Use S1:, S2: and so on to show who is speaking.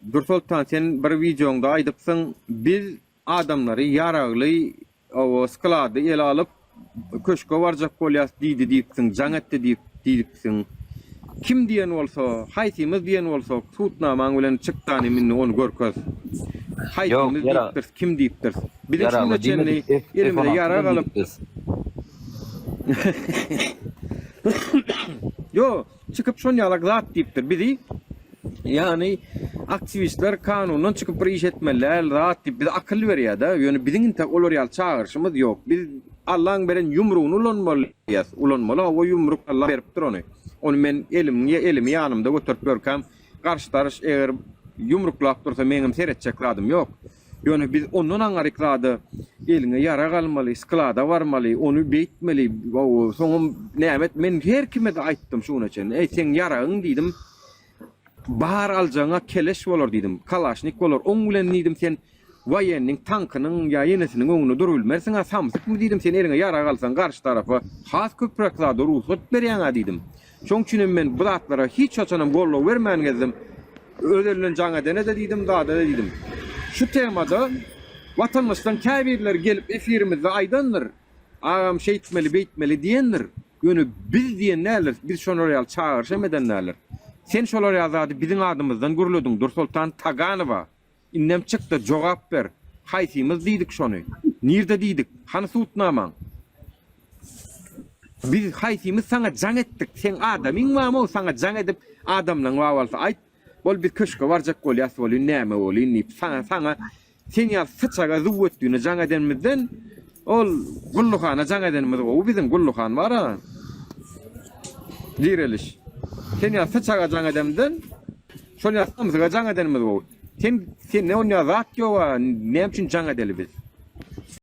S1: Dursoltan sen bir wideoňda aýdypsyň biz adamlary ýaragly o sklady ele alyp köşge barjak bolýas diýdi diýipsiň jaň etdi diýip diýipsiň kim diýen bolsa haýsymyz diýen bolsak sudnamaň bilen çykdany mindi ony görkez haýsymyz diýipdirs kim diýipdirs biziň şunda çenli elimize ýarag alyp ýo. Çykyp şon ýalak zat diýipdir bizi ýany aktiwistler kanundan çykyp bir iş etmeli däl zat diýip bize akyl berýädä ýöne biziň intek olar ýaly çagyryşymyz ýok biz Allaň beren ýumrugyny ulanmaly diýýäs ulanmaly hawa ýumruk Allah beripdir ony ony men elim elimi ýanymda göterip ýörkäm garşydaryş eger ýumruklap dursa meňem seretjek zadym ýok. Ýöne biz ondan aňaryk zada eliňe ýarag almaly, sklada barmaly, ony beýtmeli, soňam näme et, men her kime-de aýtdym şu güne çenli, eý, seň ýaragyň diýdim, bar aljagyň-a keleş bolar diýdim, kalaşnik bolar, oň bilen diýdim sen woýenniň tankynyň ýa ýenesiniň öňünde durubilmersiň-ä, samsykmy diýdim, sen eliňe ýarag alsaň garşy tarapa has köpräk zada rugsat berýäň-ä diýdim. Şoň üçinem men bu zatlara hiç haçanam goldaw bermän gezdim. Özel bilen jaň edene-de diýdim, zada-da diýdim. Şu temada watandaşlaryň käbirleri gelip efirimizde aýdandyr, Agam şeýtmeli, beýtmeli diýendir. Ýöne biz diýen däldiris, biz şolar ýaly çagyryş hem eden däldiris. Sen şolar ýaly zady biziň adymyzdan gürlediň, Dursoltan Taganowa Indem çykda jogap ber. Haýsymyz diýdik şony? Nirde diýdik? Hany sudnamaň? Biz haýsymyz saňa jaň etdik? Seň adamyň bamo saňa jaň edip adamlaň bar bolsa aýt. Bol biz köşke barjak bolýas bolyn näme bolyn diýip saňa saňa sen ýaly syçaga zuwwetdüne jaň edenimizden ol gulluhana jaň edenimiz gowy biziň gulluhan bara. Direliş. Sen ýaly syçaga jaň edemden. Şol ýasdygymyza jaň edenimiz gowy. Sen sende onýa zat ýoga näme üçin jaň edeli biz.